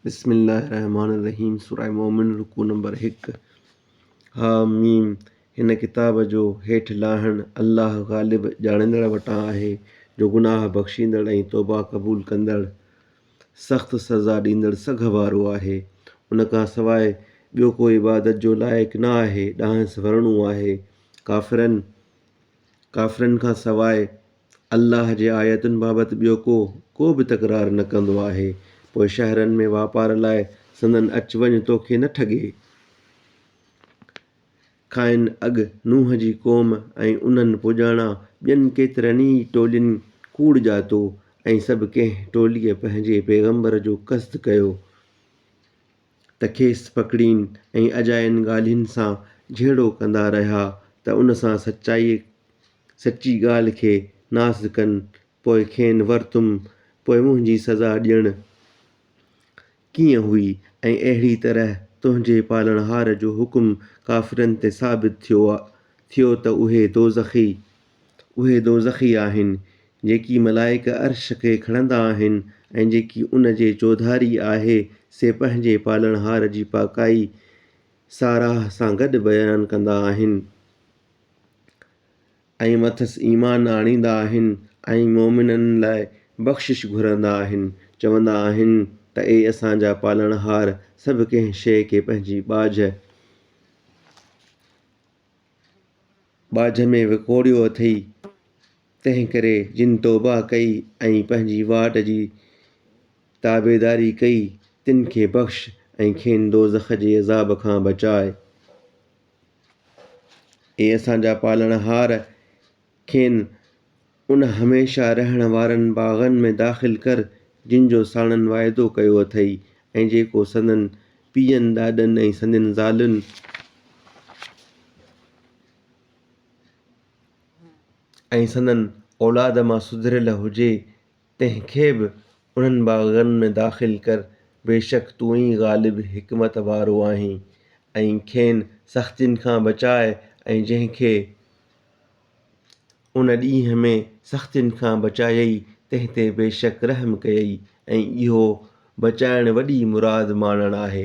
بسم الله الرحمٰن الرحيم سوره مؤمن رڪوع نمبر هڪ حا ميم هن ڪتاب جو هيٺ لاهڻ الله غالب ڄاڻندڙ وٽان آهي جو گناهه بخشيندڙ ۽ توبه قبول ڪندڙ سخت سزا ڏيندڙ سگهه وارو آهي ان کان سواء ٻيو ڪو عبادت جو لائق نه آهي ڏانهس ورڻو آهي ڪافرن ڪافرن کان سواء الله جي آيتن بابت ٻيو ڪو ڪو به تڪرار نه ڪندو آهي، پوء شهرن ۾ واپار لاء سندن اچ وڃ تو کي نه ٺڳي. کانئن اڳ نوح جي قوم ۽ انهن پڄاڻا ٻين ڪيترن ئي ٽولين ڪوڙ ڄاتو ۽ سڀ ڪنهن ٽوليء پنهنجي پيغمبر جو قصد ڪيو. ته کيس پڪڙين ۽ اجاين ڳالهين سان جهيڙو ڪندا رهيا ته ان سان سچائيء سچي ڳالهه کي ناس ڪن، پوء کين ورتم، پوء منهنجي سزا ڏيڻ ڪيئن هئي ۽ اهڙيء طرح تنهنجي پالڻهار جو حڪم ڪافرن تي ثابت ٿيو ٿيو ته اهي دوزخي اهي دوزخي آهن، جيڪي ملائڪ عرش کي کڻندا آهن ۽ جيڪي ان جي چوڌاري آهي، سي پنهنجي پالڻهار جي پاڪائي ساراهه سان گڏ بيان ڪندا آهن ۽ مٿس ايمان آڻيندا آهن ۽ مؤمنن لاء بخشش گهرندا آهن، چوندا آهن ته اي اسان جا پالڻهار! سڀ ڪنهن شيء کي پنهنجي ٻاجهه، ٻاجهه ۾ وڪوڙيو اٿئي، تنهن ڪري جن توبه ڪئي ۽ پنهنجي واٽ جي تابعداري ڪئي، تن کي بخش ۽ کين دوزخ جي عذاب کان بچاء. اي اسان جا پالڻهار! کين ان هميشه رهڻ وارن باغن ۾ داخل ڪر، جن جو ساڻن واعدو ڪيو اٿئي، ۽ جيڪو سندن پيئن، ڏاڏن ۽ سندين زالن ۽ سندن اولاد مان سڌريل هجي، تنهن کي به انهن باغن ۾ داخل ڪر، بيشڪ تون ئي غالب حڪمت وارو آهين، ۽ کين سختين کان بچاء، ۽ جنهن کي. ان ڏينهن ۾ سختين کان بچايئي، تنهن تي بيشڪ رحم ڪيئي ۽ اهو، بچائڻ، وڏي مراد ماڻڻ آهي.